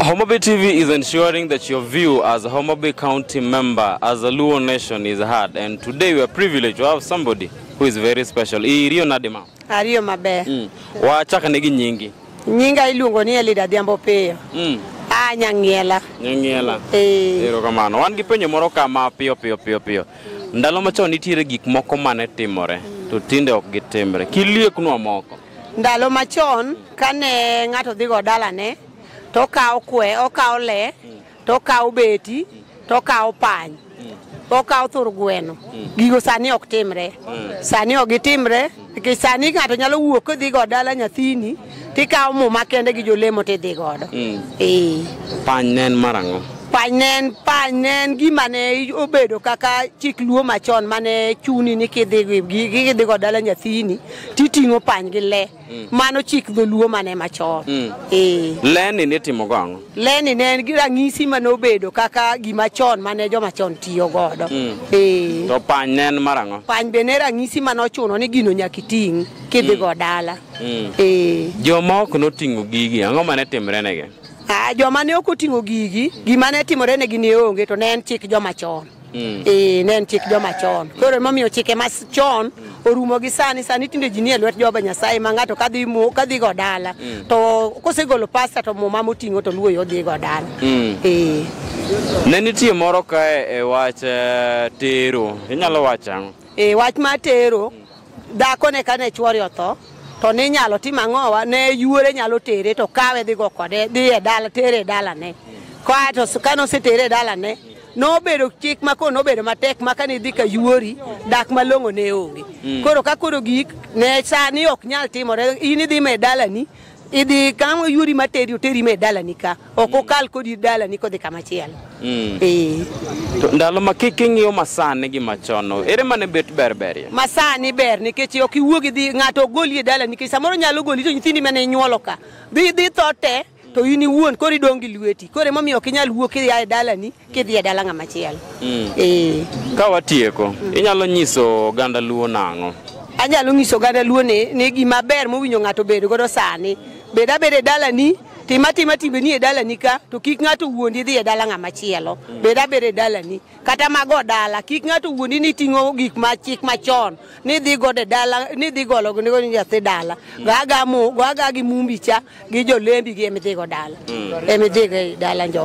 Homabay TV is ensuring that your view as a Homabay County member, as a Luo nation is heard. And today we are privileged to have somebody who is very special. Iriyo Nadima. Ariyo maber. Mm. Wachaka negi nyingi. Nyinga iluongo ni Elida Dhiambo Piyo. Mm. Ah, Nyang'iela. Nyang'iela. Eh. Ero kamano. Wan gi penyo moro kama piyo piyo piyo piyo. Ndalo machon nitiere gik moko mane timore. Mm. To tinde ok gitimre. Kilieknwa moko. Ndalo machon kane ng'ato dhigo dalane to okawo kwe, okawo le, to okawo beti, to okawo pany, okawo thur gweno. Gigo sani ok timre. Sani ok gitimre nikech sani ng'ato nyalo wuok kodhigo dala nyathini tikawo muma kende gi jolemo tidhi godo. Ee. Pany ne en marang'o? Pany ne en pany ne en gima ne obedo kaka chik luo machon mane chuni ni kidhi gi- gi- kidhigo dala nyathini titing'o pany gi le mm. mano chik dholuo mane machon mm. eh. leni nitimo go ang'o leni ne en gi ranyisi mane obedo kaka gima chon mane joma chon tiyo godo mm. eh. to pany ne en mar ang'o pany be ne ranyisi mane ochuno ni gino nyaka iting' kidhi go dala eh. joma ok noting'o gigi ang'o mane timre negi ah, joma ne ok oting'o gigi gima ne timore negi ne onge to ne en chik joma chon Mm. Ee, ne en chik joma chon. Koro emomiyo chike ma s- chon orumo gi sani sani tinde ji nie lwet Jehova Nyasaye ma ng'ato kadhi mo kadhi go dala to kosegolo pasta to muma moting'o to luwo yo dhi go dala. Mm. Ee. Ne nitie moro kae e wach eh, tero. Inyalo wacho ang'o? e wach mar tero dhako ne kane chwore otho to ne inyalo tim ang'owa ne yuore nyalo tere to kawe dhi go kode dhi e dala tere e dalane kae to s- kane osetere e dalane nobedo chik ma koro nobedo matek ma kane idhi ka yuori dak malong'o ne onge mm. koro ka koro gik ne sani ok nyal timore in idhi me dalani idhi kama yuori materi oteri me dalani ka ok mm. okal kodi dalani kodhi kama chielo mm. eh. to ndalo ma kik ing'iyo masani gi machon ere mane bet ber berie masani ber nikech ok iwuog idhi ng'ato ogoli e dalani nikech samoro nyalo goli to nyithindi mane inyuolo ka dhi dhi tho te to in iwuon koro idong' gi lweti koro emomiyo ok inyal wuok idhi ae dalani kidhi e dala ng'ama chielo ee Ka watieko, inyalo nyiso oganda Luo nang'o? anyalo nyiso oganda luo ni ni gima ber mowinjo ng'ato bed godo sani bed abeda e dalani tim atima timbeni e dalani ka to kik ng'ato wuondi dhi e dala ng'ama chielo bed abeda e dalani kata mago dala kik ng'ato wuondi ni ting'o gik ma chik machon ni dhi gode dala ni dhi golo ni go nyathi dala gaga mu gaga gi mumbi cha gi jolembi gi emidhigo dala emidhigo dala njo